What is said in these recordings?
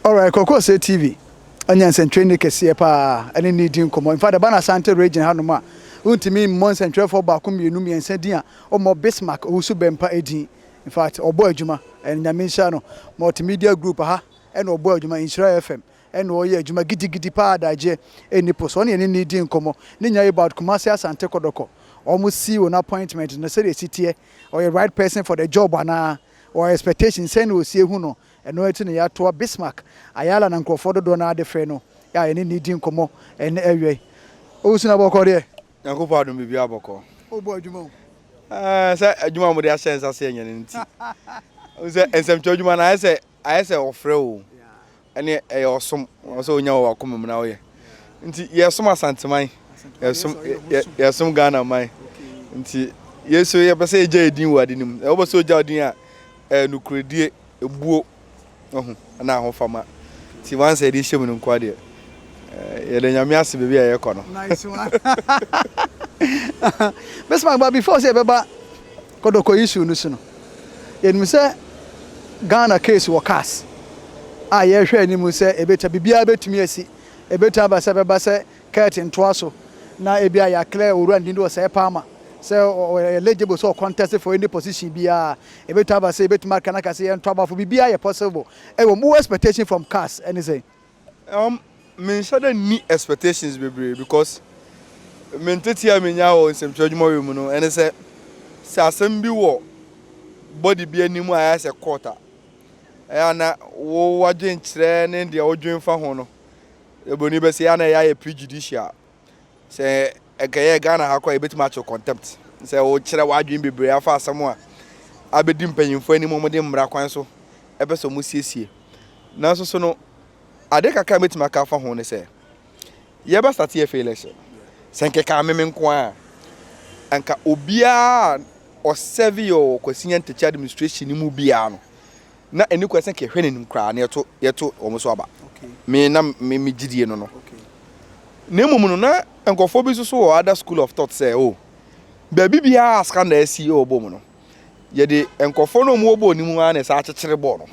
Alright, Kɔkɔɔ Sɛ TV anya nsɛntwerɛni kɛseɛ paa ɛne ne di nkɔmmɔ. In fact, ɛba no Asante region hanom a, wontumi mmɔ nsɛntwerɛfoɔ baako mmienu mmiɛnsa din a wɔmmɔ Bismarck Owusu Bɛmpa din. In fact, ɔbɔ adwuma, ɛyɛ Nyame nhyira no. Multimedia Group ha ɛna ɔbɔ adwuma, Nhyira FM. Ɛna ɔyɛ adwuma gidigidi paa adagyeɛ ɛnni po so ɔne yɛne no di nkɔmmɔ ne nyinaa about Kumasi Asante Kɔdɔkɔ wɔn see wɔn appointment no sɛdeɛ ɛsi teɛ ɔyɛ right person for the job anaa wɔn expectation sɛn na ɔsi ɛhu no ɛno nti na yɛatoa Bismark Ayala na nkorɔfoɔ dodoɔ no ara de frɛ no a yɛne no redi nkɔmmɔ ɛnɛ awia yi Owusina bɔkɔɔ deɛ? Nyankopɔn adom biribiara bɔkɔɔ. Wobɔ adwuma o. Ɛɛ sɛ adwuma a wɔde ahyɛ nsa sɛ yɛnyɛ no nti. Wohu sɛ nsɛmtwerɛ adwuma no ayɛ sɛ Ayɛ sɛ wɔfrɛ wo o, ɛne ɛyɛ ɔsom, ɛwɔ sɛ wonya wɔ w'akoma mu na woyɛ. Nti yɛsom Asanteman, yɛsom yɛsom Ghana man. Nti yei so yɛpɛ sɛ yɛgya yɛ din wɔ ade no mu. Wobɛ sɛ ogya wo din a, ɛyɛ nokorɛdie, ɛbuo, wahu, ɛna ahofama. Nti wɔn sɛ yɛde hyɛ mu no nkoa deɛ, yɛda Nyame ase baabi a yɛrekɔ no. Nice one. Miss Magba, before sɛ yɛbɛba Kɔtɔkɔ issue no so no, yɛnim sɛ Ghana case wɔ CAS a yɛrehwɛ anim sɛ ɛbɛtia, biribiara bɛtumi asi. Ɛbɛtumi aba sɛ ɛbɛba sɛ Kurt ntoa so na ebia yɛaclear Owura Ndindi Osei Palmer sɛ ɔyɛ eligible sɛ ɔcontest for any position biara. Ɛbɛtumi aba sɛ yɛbɛtumi aka no aka sɛ yɛnto abafo. Biribiara yɛ possible. Ɛwom, wo expectation from CAS ne sɛn? Um me nhyɛ dɛ nni expectations bebree because me ntetee a menya wɔ nsɛmtwerɛ adwumayɛ mu no ɛne sɛ sɛ asɛm bi wɔ body bi anim a ɛyɛ sɛ court a ɛyɛ a na wo w'adwenkyerɛ ne deɛ wodwen fa ho no Obroni bɛsɛ ɛyɛ a na ɛyɛ ayɛ prejudicial sɛ ɛkɛyɛ Ghana ha kɔ yɛbɛtumi ato contempt sɛ wokyerɛ w'adwene bebree afa asɛm a abɛdi mpanyimfoɔ anim wɔn de mmara kwan so ɛpɛ sɛ wɔn siesie nanso so no ade kakra mɛtumi aka afa ho ne sɛ yɛbɛ sate afei lɛhyɛ sɛ nkeka meme nko a anka obiara ɔsɛve yɛ ɔkwasinya ntakyi administration no mu biara no na ɛni kwan sɛ nka yɛhwɛ n'anim koraa na yɛto yɛto wɔn so aba. Me na me me gyidie no no. Na mmom no na nkurɔfoɔ bi nso so wɔ other school of thought sɛ oh baabi biara a scandal asi wɔ bɔɔl mu no yɛde nkurɔfoɔ no a wɔwɔ bɔɔl no mu ara na ɛsan akyekyere bɔɔl no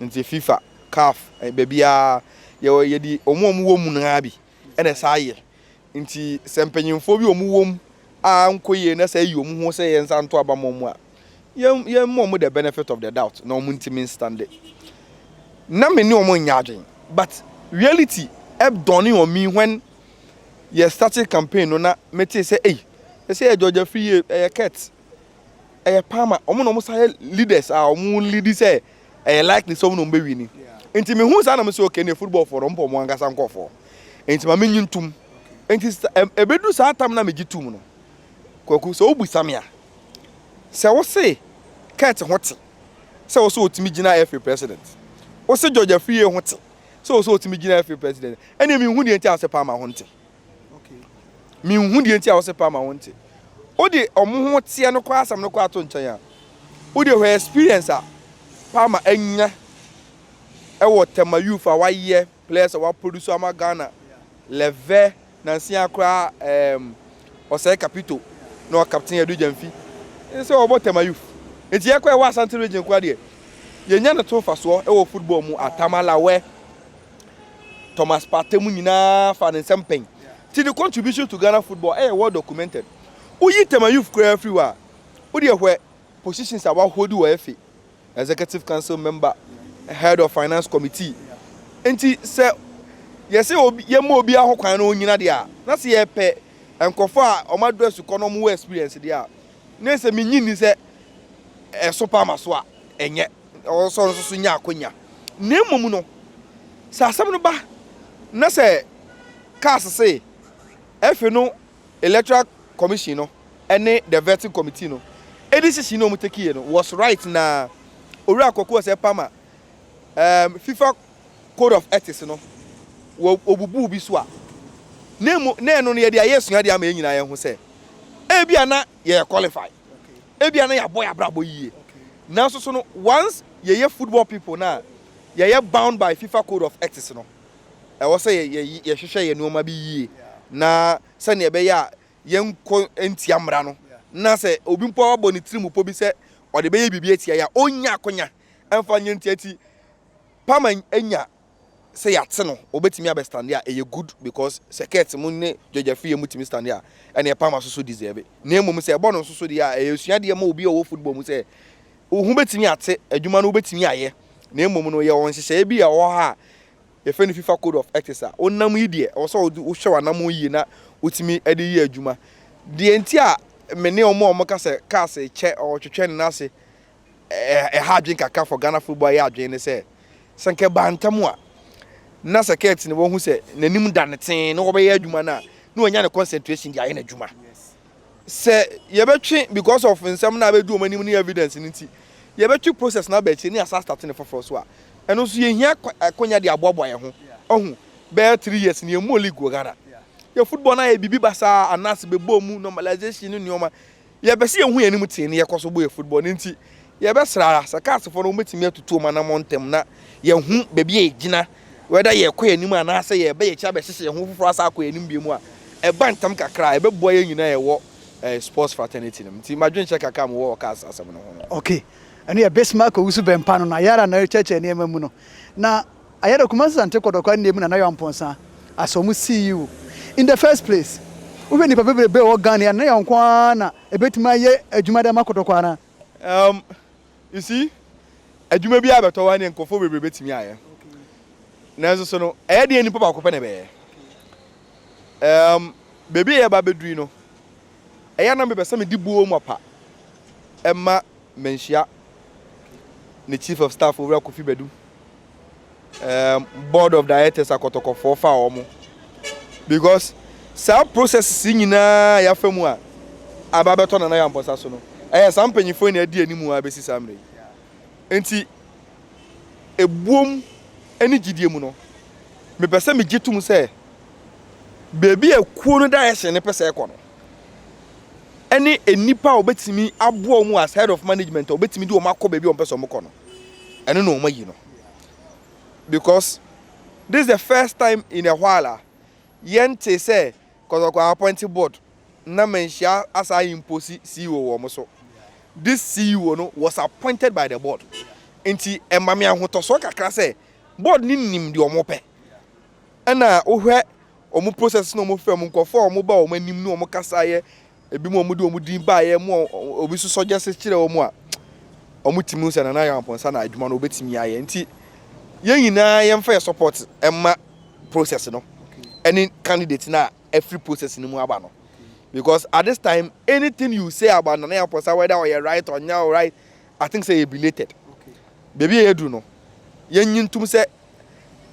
nti fifa caf baabiara yɛwɔ yɛde wɔn a wɔwɔ mu no ara bi na ɛsan yɛ Nti sɛ mpanyimfoɔ bi a wɔn wɔ mu a ankɔ yie na saa yi wɔn ho sɛ yɛn nsa nto aba ma wɔn a, yɛn yɛn ma wɔn the benefit of the doubt na wɔn ntumi nstande. Na me ne wɔn nyɛ adwene but reality dɔnee on me when yɛ started campaign no na metee sɛ ei ɛsɛ yɛ Georgia free yie ɛyɛ Kurt ɛyɛ paa ma wɔn na wɔn san yɛ leaders a wɔn lead sɛ ɛyɛ likely sɛ wɔn na wɔn bɛ wini nti mi hu saa na mi sɛ okay ne football fɔ no wɔn pɔ wɔn ankasa nkɔfɔ nti ma mi nyi ntum nti ɛbɛ du saa tam na mi gye tum no kwaku sɛ obu samia sɛ wose kurt ho te sɛ wose otumi gyina fa president wose georgia fie ho te sɛ wose otumi gyina fa president ɛnna mi hu deɛ nti a sɛ paa ma ho nti. Menhu deɛ nti a wose paa ma wonte. Wode ɔmo ho teɛ no kɔ asɛm no kɔ ato nkyɛn a, wode hwɛ experience a paa ma anya ɛwɔ Tema Youth a wayɛ players a wa produce ama Ghana lɛvɛ nansia koraa ɛɛm Ɔsɛe Kapito na ɔkapten Ado Gyamfi ɛsɛ sɛ ɔbɔ Tema Youth. Nti yɛkɔ ɛwɔ Asante region koraa deɛ yɛnya no to mfasoɔ ɛwɔ football mu Atamalawe. Thomas Partey mu nyinaa fa ne nsam pɛn. Ti ne contributions to Ghana football ɛyɛ well documented. Woyi Tema Youth koraa firi hɔ a, wodeɛ hwɛ positions a waholdi wɔ FA, Executive Council member, Head of Finance Committee. Nti sɛ yɛse obi, yɛma obiara ho kwan na ɔnyina deɛ a, na sɛ yɛpɛ nkorɔfoɔ a wɔn address kɔ na wɔwɔ experience deɛ a, na ɛsɛ menyi nni sɛ ɛso paa ma so a, ɛnyɛ. ɔwɔsɔre nso so nya akwanya. Na mmom no, sɛ asɛm no ba na sɛ kaa sese ɛfe no electoral commission no ɛne the vetting committee no ɛdi sisi na wɔn teki yɛ no was right na owura akɔku ɔsɛ pama um, fifa code of ethics no wɔ obubu bi so a na emu na ɛno no yɛde ayɛ suade ama yɛn nyinaa yɛn ho sɛ ebi a na yɛyɛ qualify. ebia na yɛabɔ yɛn abrabɔ yie nanso so no once yɛyɛ football people no a yɛyɛ bound by fifa code of ethics no ɛwɔ sɛ yɛhwehwɛ yɛn nneɛma bi yie na sɛnea ɛbɛyɛ a yɛnkɔ ntia mmara no na sɛ obi mpo abɔ ne tirim mpo bi sɛ ɔde bɛyɛ biribi atia yɛ a ɔnnya akonya ɛmfa nyɛ nti ati Pama anya sɛ yɛate no ɔbɛtumi abɛ stande a ɛyɛ good because sɛ kɛɛt mu ne dwagya fie mu tumi stande a ɛneɛ palmer soso deserve na mmom sɛ ɛbɔ no nsoso deɛ a ɛyɛ suadeɛ ma obi a ɔwɔ football mu sɛ woho bɛtumi ate adwuma no wobɛtumi ayɛ na mmom no yɛwɔ nhyehyɛeɛ bi a ɛwɔ ha a yɛfɛ no fifa code of ethics a wonam yi deɛ ɛwɔ sɛ wohwɛ w'anamo yie na wotumi de yɛ adwuma deɛ nti a me ne ɔmo a ɔmo ka sɛ cars kyɛ ɔtwetwɛ ne nan ase ɛha adwene kakra for Ghana football ayɛ adwene ne sɛ, sɛ nka ɛbaa ntam a, na sɛ Kurt ne wɔhu sɛ n'anim da ne tee na wɔbɛyɛ adwuma no a, na wɔanya ne concentration de ayɛ n'adwuma. Sɛ yɛbɛtwe because of nsɛm no a bɛdu wɔn anim ne evidence no nti, yɛbɛtwe process no aba akyire ne yɛasa start ne foforɔ so a, ɛno nso yɛhia akwanya de aboaboa yɛn ho. Ɔhu, bɛyɛ three years no yɛmmɔɔ league wɔ Ghana. Yɛ football no ayɛ biribi basaa, Anas bɛbɔɔ mu, normalization ne nneɛma. Yɛpɛ sɛ yɛhu yɛn anim tee na yɛkɔ so bɔ yɛn football no enti yɛbɛsrɛ ara sɛ Carsfoɔ no wɔbɛtumi atutu wɔn anammɔn ntɛm na yɛahu baabi a yɛgyina whether yɛrekɔ yɛn anim anaasɛ yɛreba yɛn akyi abɛhyehyɛ yɛn ho foforɔ asan akɔ yɛn anim bio mu a ɛba ntɛm kakra a ɛbɛboa yɛn nyinaa a yɛwɔ eh, sports fraternity no mu nti madwenhyɛ kakra a mewɔ wɔ Cars asɛm no ho no. Okay. Ɛno yɛ Bismarck owusu bɛmpa no na Yara na ɛrekyerɛkyerɛ nneɛma mu no. Na Ayɛ dɛ Kumasi Sante Kɔdɔkɔ nna mu na Nayɔ Amponsah asɔ mu CEO in the first place. Wohwɛ nnipa bebrebe a ɔwɔ Ghana yi a, Nayɔ nko ara na ɛbɛtumi ayɛ adwuma de ama Kɔdɔkɔ anaa? Um, you see, adwuma biara a ɛbɛtɔ hɔ a, ɛneɛ nkorɔfoɔ bebree bɛtumi ayɛ. Nanso so no, ɛyɛ deɛ nnipa baako pɛ na ɛbɛyɛ. Um, baabi a yɛba abɛduru yi no, ɛyɛ a na mepɛ sɛ mede buo mu apa ɛma manhyia ne Chief of Staff Owura Kofi Badu, um, Board of Directors akɔtɔkɔfoɔ fa wɔn because saa processes yi nyinaa yɛafa mu a aba abɛtɔ Nana Yampɔsa so no ɛyɛ saa mpanyinfoɔ na ɛdi anim a abɛsi saa mmerɛ yi nti ebuom ne gyidie mu no mepɛ sɛ megye tom sɛ beebi a kuo no direction no pɛ sɛ ɛkɔ no ɛne nnipa a wɔbɛtumi aboa wɔn as head of management a wɔbɛtumi de wɔn akɔ baabi a wɔn pɛ sɛ wɔn kɔ no ɛno na wɔn ayi no because this is the first time in a while a yɛnte sɛ kɔtɔkɔ appointing board na manhyia asa imposi ceo wɔn so this ceo no was appointed by the board nti ɛma me ahotɔsoɔ kakra sɛ board ne nim deɛ wɔn pɛ. Ɛna wohwɛ wɔn process na wɔn frɛ wɔn nkurɔfoɔ a wɔn ba wɔn anim ne wɔn kasa yɛ ebi mu wɔn de wɔn din ba yɛ mu obi nso sɔgyɛse kyerɛ wɔn a wɔn ti mu sɛ nana yɛ apɔnsa na adwuma no obetumi ayɛ nti yɛn nyinaa yɛn fɛ support ɛma process no ɛne candidate na every process no mu aba no because at this time anything you say about nana yɛ apɔnsa whether or yɛ right or nyɛ right I think say yɛ belated baby yɛ duro no yɛn nyi ntum sɛ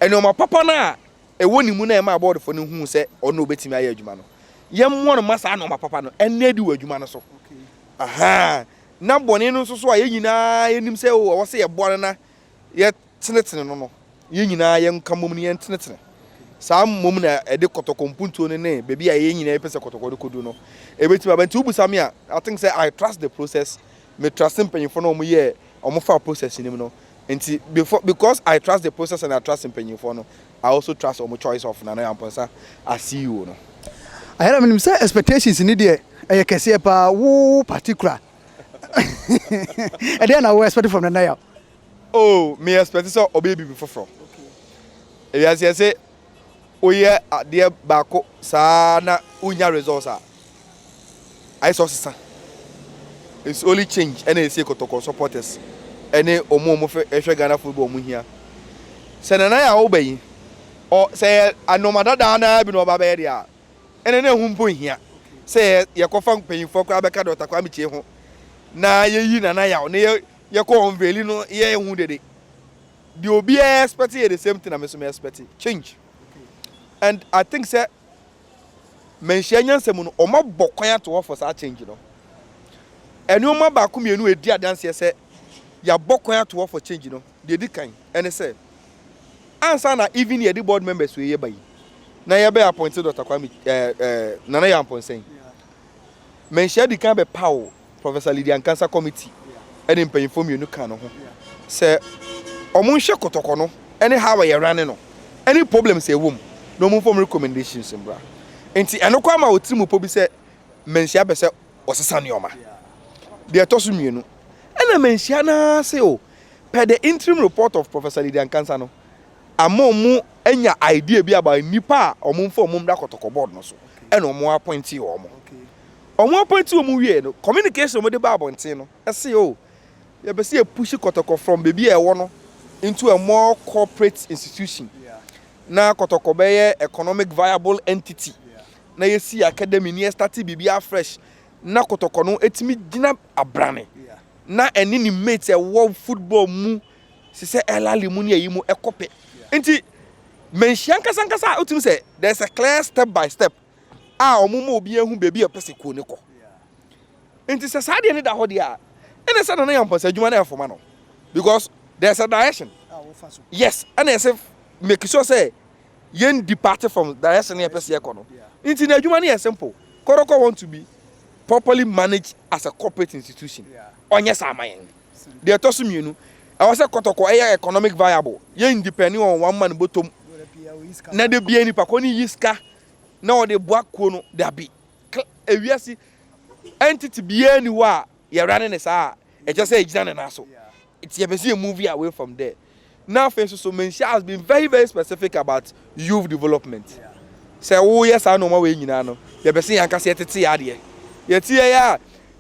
nneɛma papa no a ɛwɔ ne mu na ɛmaa bɔɔdfo no huu sɛ ɔno na obetumi ayɛ adwuma no. Yɛmmoa no mma saa nneɛma papa no nna adi wɔ adwuma no so. Ahaa, na bɔne no nso so a yɛn nyinaa yɛnim sɛ o ɛwɔ sɛ yɛboa no na yɛtenetene no no, yɛn nyinaa yɛnka mmom na yɛntenetene. Saa mmom na ɛde kɔtɔkɔ mpuntuo no ne baabi a yɛn nyinaa yɛpɛ sɛ kɔtɔkɔ no kɔdu no, ɛbetumi aba. Nti wobisa me a, I think sɛ I trust the process, metrust mpanyimfo no a wɔyɛɛ ɔmo fa process no mu no nti before because I trust the process and I trust mpanyinfoɔ no I also trust ɔmo choice of Nana Yampɔnsa as CEO no. Ayɛ na menim sɛ expectations no deɛ ɛyɛ kɛseɛ paa wo particular ɛdeɛn na wo expect from Nana Yaw? Oh me expect sɛ ɔbɛyɛ biribi foforɔ ewiase yɛse. woyɛ adeɛ baako saa na wonya results a ayɛ sɛ ɔsesa it's only change ɛna ɛsie kɔtɔkɔ supporters ɛne ɔmo ɔmo fɛ ɛhwɛ Ghana football ɔmo hia sɛ nana yɛ a woba yi ɔ sɛ yɛ anoma dadaa naa bi na ɔba bɛyɛ deɛ a ɛna na ɛho mpo nhia sɛ yɛ yɛkɔfa mpanyinfoɔ koraa bɛka Dr. Kwame Kyei ho na yɛyi nana yɛ a na yɛ yɛkɔ ɔnveli no yɛ ɛho dede deɛ obiara expect yɛ the same thing na me nso me expect change and I think sɛ manhyia nyansa mu no wɔn abɔ kwan ato hɔ for saa change no nneɛma baako mmienu edi adanseɛ sɛ yɛabɔ kwan ato hɔ for change no deɛ edi kan ɛne sɛ ansa na even yɛde board members wei yɛba yi na yɛbɛ appoint Dr. Kwame ɛɛ eh, ɛɛ eh, Nana Yamponsɛn Manhyia di kan bɛpaw Professor Lydia Nkansah Committee ne mpanyimfo mmienu ka no ho sɛ wɔnhwɛ kɔtɔkɔ no ne how a yɛrane no ne problems a ɛwɔ mu na wɔmfa wɔn recommendations mmra. Enti ɛno koraa ma ɔtirimupɔ bi sɛ manhyia pɛ sɛ ɔsesa nneɛma. Deɛ ɛtɔ so mmienu, ɛna manhyia no ara se o, per the interim report of Professor Lydia Nkansah no, ama ɔmo anya idea bi about nnipa a ɔmo mfa ɔmo mmra kɔtɔkɔ board no so ɛna ɔmo appointee ɔmo. Ɔmo appointee ɔmo wieɛ no, communication ɔmo de baa abɔnten no ɛse oh yɛpɛ sɛ yɛ pushi kɔtɔkɔ from baabi a ɛwɔ no into a more corporate institution na kɔtɔkɔ bɛyɛ economic viable entity na yɛsi academy na yɛstate biribi afresh na kɔtɔkɔ no ɛtumi gyina abrane na ɛne ne mates ɛwɔ football mu se sɛ ɛlale mu ne ayi mu ɛkɔ pɛ nti manhyia nkasa nkasa a wotumi sɛ there's a clear step by step a wɔn ma obi ehu baabi a ɛpɛ sɛ kuo ne kɔ nti sɛ saa deɛ ne da hɔ deɛ a ɛna sɛ nana yɛ mpɔnsa adwuma no ɛfoma no because there's a direction yes ɛna ɛsɛ make sure sɛ yɛn depart from direction yɛ pɛ sɛ yɛkɔ no nti na adwuma no yɛ simple kɔrɔkɔ want to be properly managed as a corporate institution ɔnyɛ saa ma yɛn Deɛ ɛtɔ so mmienu, ɛwɔ sɛ kɔtɔkɔ ɛyɛ economic viable. Yɛn depend on one man botom na de bia nipa kɔ ne yi sika na ɔde boa kuo no dabi. Ewiase entity biara ni hɔ a yɛrane ne saa a ɛkyɛ sɛ ɛgyina ne nan so. Nti yɛpɛ sɛ yɛ move away from there. na afei nso so Menhyia has been very very specific about youth development sɛ woyɛ saa nneɛma wei nyinaa no yɛpɛ sɛ yɛn ankasa yɛtete yɛ adeɛ yɛte yɛ a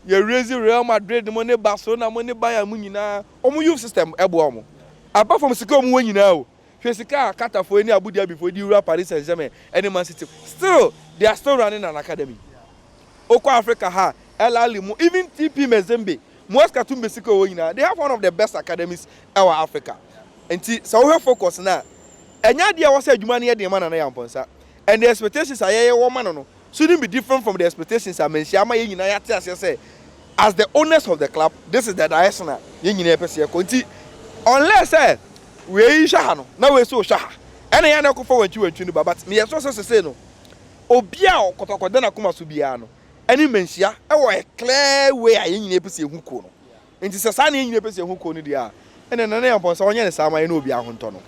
yɛ raise Real Madrid mo ne Barcelona mo ne Bayern mo nyinaa wɔn youth system ɛboa wɔn apart from sika wɔn wɔ nyinaa o hwɛ sika a Qatarfoɔ ne Abu Dhabifoɔ de wura Paris Saint-Germain ɛne Man City still they are still running an academy. Okɔ Africa ha a, LRLE mu, even TP Mazembe, Moes Katumbi Sika wɔ hɔ nyinaa, they have one of the best academies wɔ Africa. Nti sɛ wohwɛ focus no a, ɛnyɛ adeɛ a ɛwɔ sɛ adwuma no yɛ den ma Nana Yampɔnsa. And the expectations a yɛyɛ wɔ ma no no shouldn't be different from the expectations a Manhyia ama yɛn nyinaa yɛate aseɛ sɛ as the owners of the club, this is the direction a yɛn nyinaa yɛpɛ sɛ yɛkɔ. Nti unless sɛ wei hwɛ ha no na wei nso rehwɛ ha, ɛna yɛn na ɛkɔfa wantwiwantwi no ba, but meyɛ sure sɛ sesei no, Obi a ɔkɔtɔkɔ da n'akoma so biara no ne mma nhyia wɔ a clear way a yɛn nyinaa pɛ sɛ yɛhu kuo no. Nti sɛ saa na yɛn nyinaa pɛ sɛ yɛhu kuo no deɛ a, ɛnneɛ Nana Nyampɔn sɛ ɔnyɛ no saa ma yɛne obiara ho ntɔ no.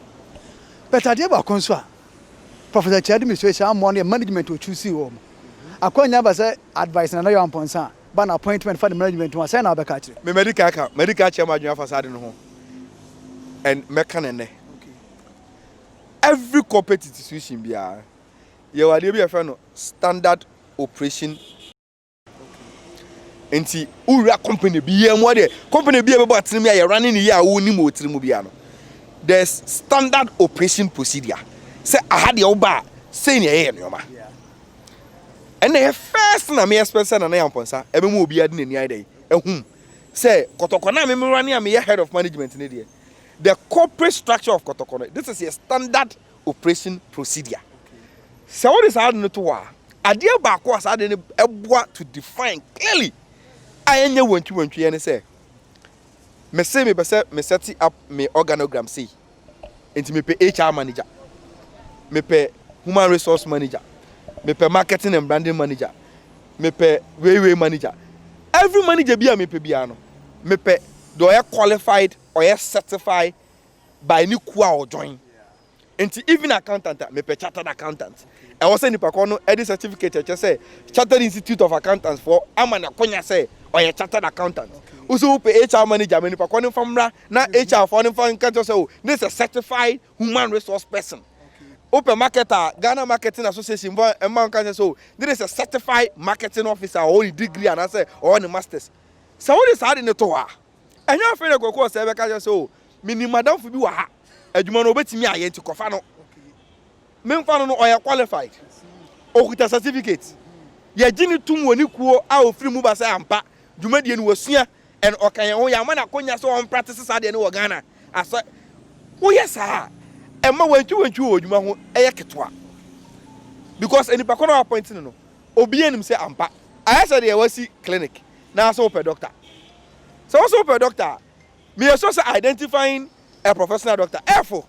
But adeɛ baako nso a Professor Akyia de Misuahyia amoa no yɛ management a ɔchuusii wɔn. Akwanya aba sɛ advice Nana Yampɔn nsa a, ba no appointment fa ne management ho a, sɛn na wobɛka akyerɛ? Me madi kan aka, madi kan akyerɛ m'adwene afa saa ade no ho and mɛka no ɛnnɛ. Every corporate institution biara, Yɛwɔ adeɛ bi a yɛfrɛ no standard operation. Nti wowura company biaa mu a deɛ company biaa bɛbɔ atene mu a yɛrane ne yie a wonim wɔ tiri mu biaa no there's standard operation procedure sɛ aha deɛ woba a sei na yɛyɛ nneɛma ɛna yɛ first na me expect sɛ Nana Yampɔnsa ɛbɛma obiaa de n'ani ayɛ dɛn ahum sɛ kɔtɔkɔ no a memerane a meyɛ head of management no deɛ the corporate structure of kɔtɔkɔ no this is yɛ standard operation procedure. Sɛ wode saa ade no to hɔ a, adeɛ baako a saa ade no boa to define clearly a ɛnyɛ wantwiwantwiɛ ne sɛ, mese mepɛ sɛ me set up me organogram sei, nti mepɛ HR manager, mepɛ human resource manager, mepɛ marketing and branding manager, mepɛ wei wei manager. Every manager bi a mepɛ biara no, mepɛ deɛ ɔyɛ qualified, ɔyɛ certified by ne kuo a ɔjoin nti even accountant a mepɛ chartered accountant ɛwɔ sɛ nipa kɔ no ɛde certificate ɛkyɛ sɛ chartered institute of accountants foɔ ama na konya sɛ ɔyɛ chartered accountant wosi wopɛ HR manager ma nipa kɔ no nfa mmra na HR foɔ no nfa nka kyerɛ sɛ o ne sɛ certified human resource person wopɛ marketer a Ghana marketing association foɔ mma nka kyerɛ sɛ o ne de sɛ certified marketing officer ɔwɔ ne degree anaasɛ ɔwɔ ne masters sɛ wode saa de ne to hɔ a Ɛnyɛ afei na kɔkɔɔ sɛ bɛka kyerɛ sɛ o menim madamfo bi wɔ ha adwuma no obetumi ayɛ nti kɔfa no memfa no no ɔyɛ qualified okuta certificate yɛgye ne tum wɔ ne kuo a ofiri mu ba sɛ ampa dwumadie no wasua ɛn ɔka yɛn ho yɛ ama no akonya sɛ ɔn practice saa deɛ no wɔ Ghana asɛ woyɛ saa ɛma wantwiwantwi wɔ adwuma ho ɛyɛ ketewa because anipa kɔ na wapɔnti no no obi anim sɛ ampa ayɛ sɛ deɛ wasi clinic na asɛ wopɛ doctor Sɛ wo nso wopɛ dɔkta a, meyɛ sure sɛ identifying a professional doctor ɛfo.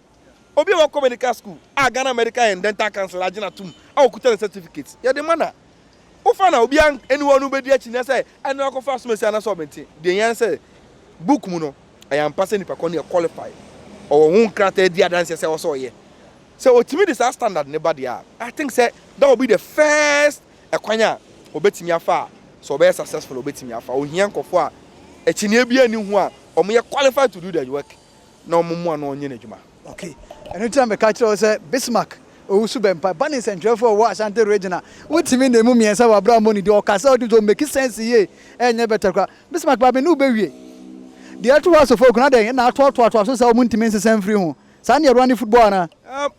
Obi a wakɔ medical school a Ghana Medical and Dental Council agye no atom a ɔkuta ne certificate, yɛde ma no a, wofa no a obiara nni hɔ a ɔne wo bɛdi akyi na sɛ ɛne no akɔfa asomasi anaasɛ ɔbɛnte. Deɛ ɛhia ne sɛ book mu no, ɛyɛ ampa sɛ nipa korɔ no yɛ qualified, ɔwɔ ho nkrataa di adanseɛ sɛ ɛwɔ sɛ ɔyɛ. Sɛ ɔtumi de saa standard no ba deɛ a, I think sɛ that will be the first. ɛkwan a ɔbɛtumi afa a sɛ ɔbɛyɛ successful a ɔbɛtumi afa. Ɔhia nkurɔfoɔ a akyinnyeɛ biara nni ho a wɔyɛ qualified to do the work na wɔmmoa no ɔnyɛ n'adwuma. Ok, ɛno nti na meka kyerɛɛ wo sɛ Bismarck, Owusu Bempah, ba ne nsɛnkyerɛwfoɔ a ɔwɔ Ashanti region a wotumi na ɛmu mmiɛnsa wɔ aberɛ a wɔmmɔne din. Ɔka sɛ wotumi sɛ ɔmmake sense yie, ɛnyɛ better koraa. Bismarck ba me ne wo bɛwie. Deɛ ɛto hɔ a Sofo Okun, adɛn na atoatoatoa so saa a wɔntumi nsesa mfiri ho? Saa ne yɛn running football anaa? Erm,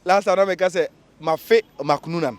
last time na meka sɛ Mafe Maknunan.